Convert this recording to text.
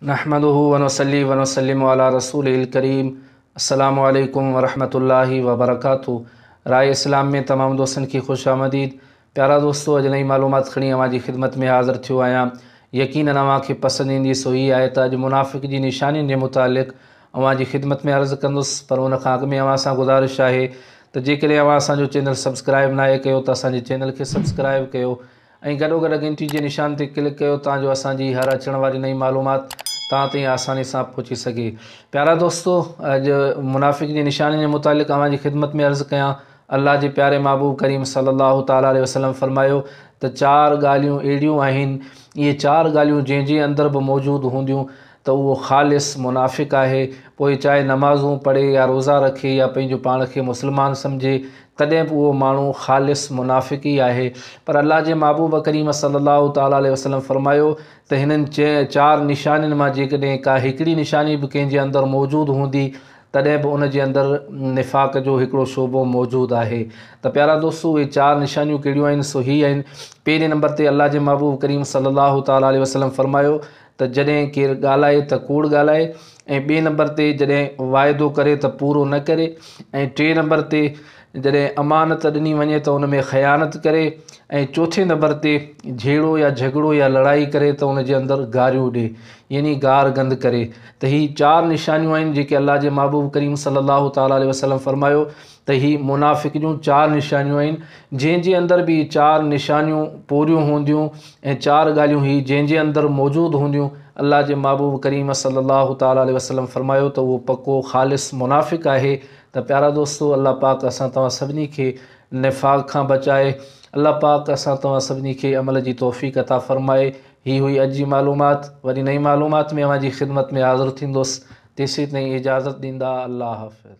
نحمده ونصلي ونسلم علي رسوله الڪريم السلام عليڪم ورحمة الله وبرڪاته راء اسلام ۾ تمام دوستن کي خوش آمديد پيارا دوستو اڄ نئين معلومات کڻي اوهان جي خدمت ۾ حاضر ٿيو آهيان يقينن اوهان کي پسند ايندي سو هي آهي ته اڄ منافق جي نشانين جي متعلق اوهان جي خدمت ۾ عرض ڪندس پر ان کان اڳ ۾ اوهان سان گذارش آهي ته جيڪڏهن اوهان اسان جو چينل سبسڪرائب ناهي ڪيو ته اسان جي چينل کي سبسڪرائب ڪيو ۽ گڏوگڏ ڳڻتي جي نشان تي ڪلڪ ڪيو تان جو اسان جي هر اچڻ واري نئين معلومات توهان تائين آساني سان پهچي سگهي. پيارا دوستو! اڄ منافق جي نشانين جي متعلق اوهان جي خدمت ۾ عرض ڪيان. الله جي پياري محبوب ڪريم صلي الله تعالٰي عليه وسلم فرمايو ته چار ڳالهيون اهڙيون آهن، اهي چار ڳالهيون جنهن جي اندر به موجود هونديون ته اهو خالص منافق آهي، پوء چاهي نمازون پڙهي يا روزا رکي يا پنهنجو پاڻ کي مسلمان سمجهي تڏهن به اهو ماڻهو خالص منافق ئي آهي. پر الله جي محبوب ڪريم صلّي اللّٰه تعالٰي عليه وسلّم فرمايو ته هنن چار نشانين مان جيڪڏهن ڪا هڪڙي نشاني به ڪنهن جي اندر موجود هوندي تڏهن به ان جي اندر نفاق جو هڪڙو شعبو موجود آهي ته پيارا دوستو اهي چار نشانيون ڪهڙيون آهن سو هي آهن پهرين نمبر تي الله جي محبوب ڪريم صلّي اللّٰه تعالٰي عليه وسلّم فرمايو ته جڏهن ڪير ڳالهائي ته ڪوڙ ڳالهائي ۽ ٻئي نمبر تي جڏهن واعدو ڪري ته پورو نه ڪري ۽ ٽئين نمبر تي جڏهن امانت ڏني وڃي ته ان ۾ خيانت ڪري ۽ چوٿين نمبر تي جهيڙو يا جهڳڙو يا لڙائي ڪري ته ان جي اندر گاريون ڏي يعني گار گند ڪري ته هي چار نشانيون آهن جيڪي الله جي محبوب ڪريم صلي الله تعالٰي عليه وسلم فرمايو ته هي منافق جون چار نشانيون آهن جنهن جي اندر به هي چار نشانيون پوريون هونديون ۽ چار ڳالهيون هي جنهن جي اندر موجود هونديون الله جي محبوب ڪريم صلي الله تعالٰي عليه وسلم فرمايو ته اهو پڪو خالص منافق آهي ته پيارا دوستو الله پاڪ اسان توهان سڀني کي نفاق کان بچائي الله پاڪ اسان توهان سڀني کي عمل جي توفيق عطا فرمائي هي هئي اڄ جي معلومات وري نئين معلومات ۾ اوهان جي خدمت ۾ حاضر ٿيندوس تيسين تائين اجازت ڏيندا الله حافظ.